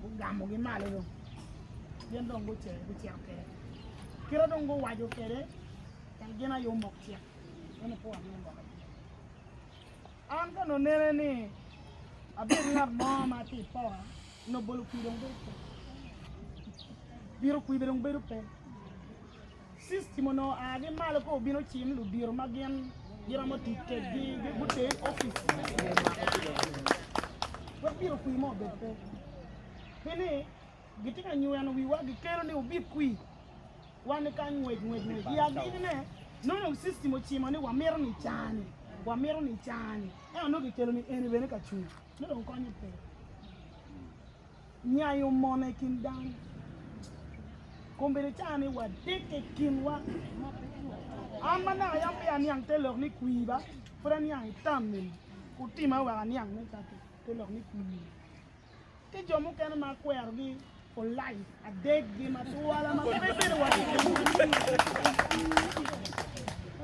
gugamogi malo dong gin dong gucito gucito kwede kite dong guwaco kwede en gin aye omok cik en opo aye omoke an ka nonene ni abedo ngat mo ma tye ipoka nobolo kwi dong bedo pe biro kwibe dong bedo pe System onongo aa gi malo ka obino cim ludito ma gin giromo tic kedgi gute office me mako pige wek bino kwi mo obed pe pi ni gitye ka nyweno wiwa gikelo ni wubi kwi wan ni kany ngwec ngwec ngwec i agiki ne nongo system ocimo ni wamito ni cani wamito ni cani ento nongo gikelo ni eni bene ka cung nongo konyo pe. Nyayo mone i kin dano. Kombeddi caa ni wadek i kinwa. An ma naka yam peya aniang te lok ni kwir ba, pud aniang i tam mego. Gutima wek aniang ni kaki te lok ni kwir. Ki jo mukene ma akwerogi for life, adeggi ma twala ma pe bedo wa ki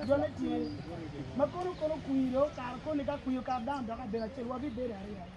jone tye. Ma kono kono kwir okato koni ka kwir okato dano doko abedo acel, wabibedo aryo aryo.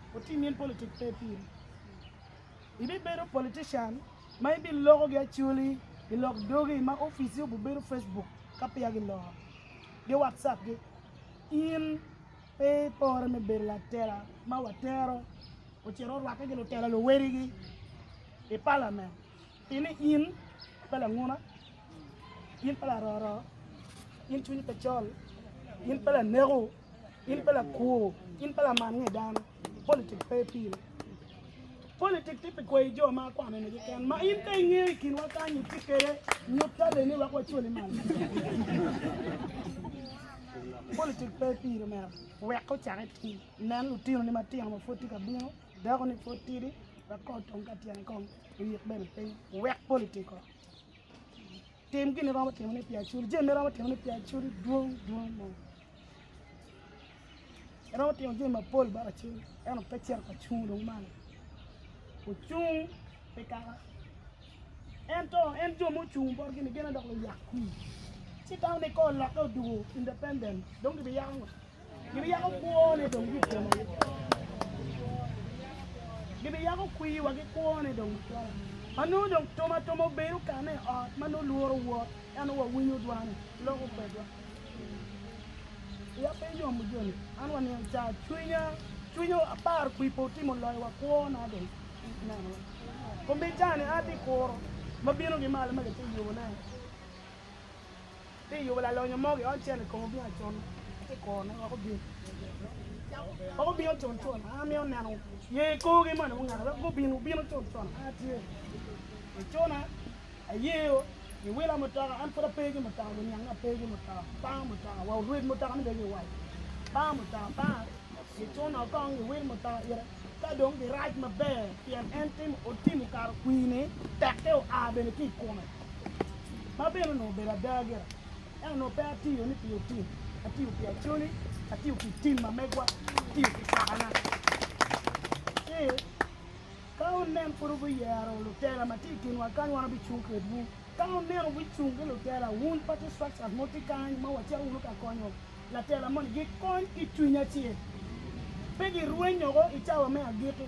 Otim in politic pe piri. Ibibedo politician ma ibiloko gi acholi ilok dogi ma office obubedo Facebook ka peya giloro gi WhatsApp gi. In pe ipore me bedo latela ma watero ocito orwake gi lutela luwedigi i parliament. I ni in pe languna, in pe laroro, in cwiny pe col, in pe laneko, in pe lakwo, in pe laman nge dano, politik pe pire. Politik tye pi kweyo jo ma kwano ni keken. Ma in ka ingeyo i kinwa kany itye kede nyut taleni wek wacwali malo. Politik pe pire mera. Wek ocak itim. Nen lutino ni matino ma pwod tye ka bino. Dako-ni pud tidi wek kong otum ka tyene kong oyik bene piny, wek pol ityeko. Tim gin iromo timo ni pi acul, jami iromo timo ni pi acul dwong dwong mo. Iromo timo jami mapol bot acul, ento pe cito ka cung dong malo. Ocung pi kaka ento en jo mucung bot gini gene dok luyak kwir. Ci tamo ni ka olokke odugo independent dong gibiyako ngo? Gibiyako kwone dong gitwero ki Gibiyako kwiwa ki kwone dong gitwero. Ma nongo dong tum atuma obedo kane i ot ma nongo lworo wot, ento nongo wawinyo dwane, loko kwedwa. Wiya pe yomo joni, an wa niang ca cwinya, cwinya aparo kwi pe otimo loyo wa kwona dong ineno wa. Kombicani an atye kuro ma bino ki malo ma gitye yubone. Pi yubo lalonyo mo giony cel i kom obingo acun, atye kuro ne wek obin. Wek obin ocun cun, an amito neno ye i korgi moni mungaka wek gubin wubin ocun cun. An atye i cuna, ayeyo giwila mutoka, an pud ape ki mutoka, guniange ape ki mutoka, pango mutoka wa orwec mutoka ni bene giwal, pango mutoka panga, gicuna kong giwil mutoka ite ka dong girac maber pien en timo otimo kara kwine tekke oa bene ki i kome. ma bene onongo obedo ada gira, ento onongo pe atiyo ni pi otim, atiyo pi acoli, atiyo pi tim ma megwa, atiyo pi cokana. Ci ka wunen pud wubiyero lutela ma tye i kinwa kany, wan wabicung kedwu. Ka wunen wubicung ki lutela, wun party structures mogo tye kany ma wacito wunu ka konyo latela moni, gikony ki cwiny acel, pe girweny woko i cawa me agikki.